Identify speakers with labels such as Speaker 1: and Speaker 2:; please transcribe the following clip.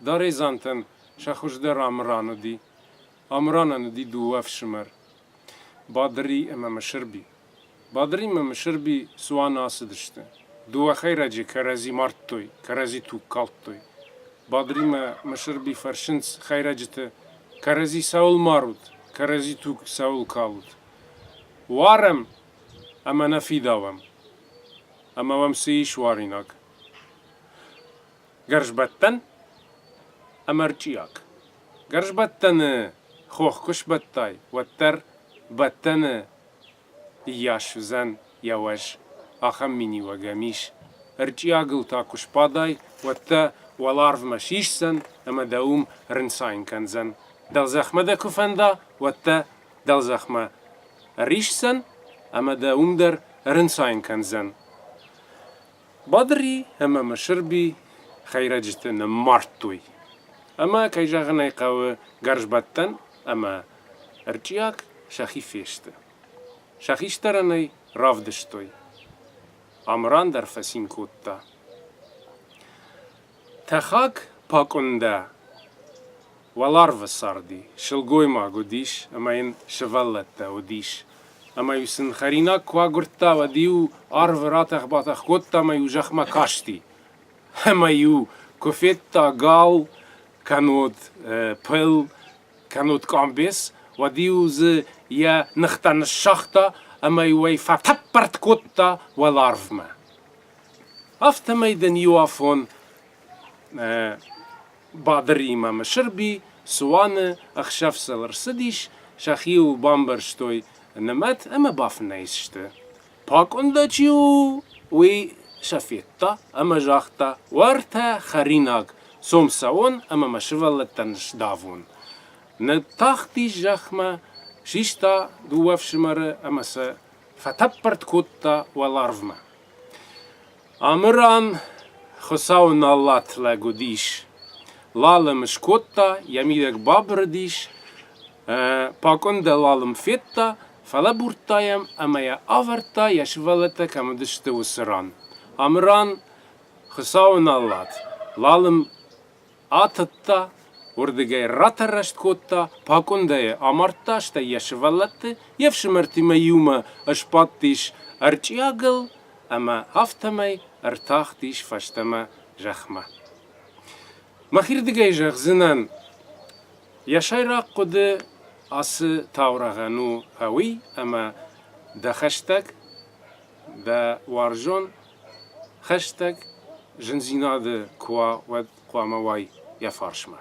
Speaker 1: Даредзантӕн сӕ хуыздӕр Амыран уыди. Амыранӕн уыди дыууӕ фсымӕр, Бадыри ӕмӕ Мысырби. Бадыри ӕмӕ Мысырби цуаны ацыдысты. Дыууӕ хӕйрӕджы кӕрӕдзи мардтой, кӕрӕдзи туг калдтой. Бадыримӕ Мысырби фӕрсынц хӕйрӕджыты, кӕрӕдзи цӕуыл марут, кӕрӕдзи туг цӕуыл калут? Уарӕм ӕмӕ нӕ фидауӕм. Ӕмӕ уӕм цы ис уаринаг? Гӕрзбӕттӕн ӕмӕ рчъиаг. Гӕрзбӕттӕны хох куы сбӕттай, уӕддӕр бӕттӕны ныййас уыдзӕн йӕ уӕз. Ахӕм миниуӕг ӕм ис. Рчъиагыл та куы сбадай, уӕд дӕ уӕларвмӕ сисдзӕн ӕмӕ дӕ уым рынцайын кӕндзӕн. Дӕлзӕхмӕ дӕ куы фӕнда, уӕд дӕ дӕлзӕхмӕ ӕриссдзӕн ӕмӕ дӕ уым дӕр рынцайын кӕндзӕн. Бадри ӕмӕ Мысырби хӕйрӕджыты ныммардтой. Ӕмӕ, кӕй зӕгъын ӕй хъӕуы, гӕрзбӕттӕн ӕмӕ ӕрчъиаг сӕхи фесты. Сӕ хистӕрӕнӕй равдыстой. Амыран дӕр фӕцин кодта. Тӕхӕг пакъуындӕ Уӕларвы царди сылгоймаг уыдис ӕмӕ йын сывӕллӕттӕ уыдис. Ӕмӕ-иу сын хӕринаг куы агуырдта, уӕд-иу арвы ратӕх-батӕх кодта ӕмӕ-иу зӕхмӕ касти. Ӕмӕ-иу куы федта гал, кӕннод пыл, кӕннод къамбец, уӕд-иу дзы йӕ ныхтӕ ныссагъта ӕмӕ-иу ӕй фӕтӕппӕртт кодта уӕларвмӕ. Афтӕмӕй дын иу афон Бадыриимӕ Мысырби цуаны ӕхсӕв сыл ӕрцыдис, сӕхи-иу бамбӕрзтой нымӕт ӕмӕ бафынӕй сты. Пакъуындӕ чи у, уый сӕ федта ӕмӕ загъта, Уӕртӕ хӕринаг, цом цӕуон ӕмӕ мӕ сывӕллӕттӕн сдавон. Ныттахтис зӕхмӕ, систа дыууӕ фсымӕры ӕмӕ сӕ фӕтӕппӕрт кодта уӕларвмӕ. Амыран Хуыцауы налат лӕг уыдис. Лал ӕм скодта, йӕ мидӕг бабырыдис, пакъуын дӕр лал ын федта, фӕлӕбурдта йӕм ӕмӕ йӕ авӕрдта, йӕ сывӕллӕттӕ кӕм уыдысты, уыцы ран. Амыран Хуыцауы налат. Лал ын Атыдта, уырдыгӕй ратӕррӕст кодта, пакъуындӕйы амардта, стӕй йӕ сывӕллӕтты, йе фсымӕртимӕ иумӕ ысбадтис ӕрчъиагыл ӕмӕ афтӕмӕй ӕртахтис фӕстӕмӕ зӕхмӕ. Мӕхирдыгӕй зӕгъдзынӕн, йӕ сӕйраг хъуыды ацы таурӕгъӕн у фӕуый, ӕмӕ дӕ хӕстӕг, дӕ уарзон Хӕстӕг зындзинады куы уа, уӕд хъуамӕ уай йӕ фарсмӕ.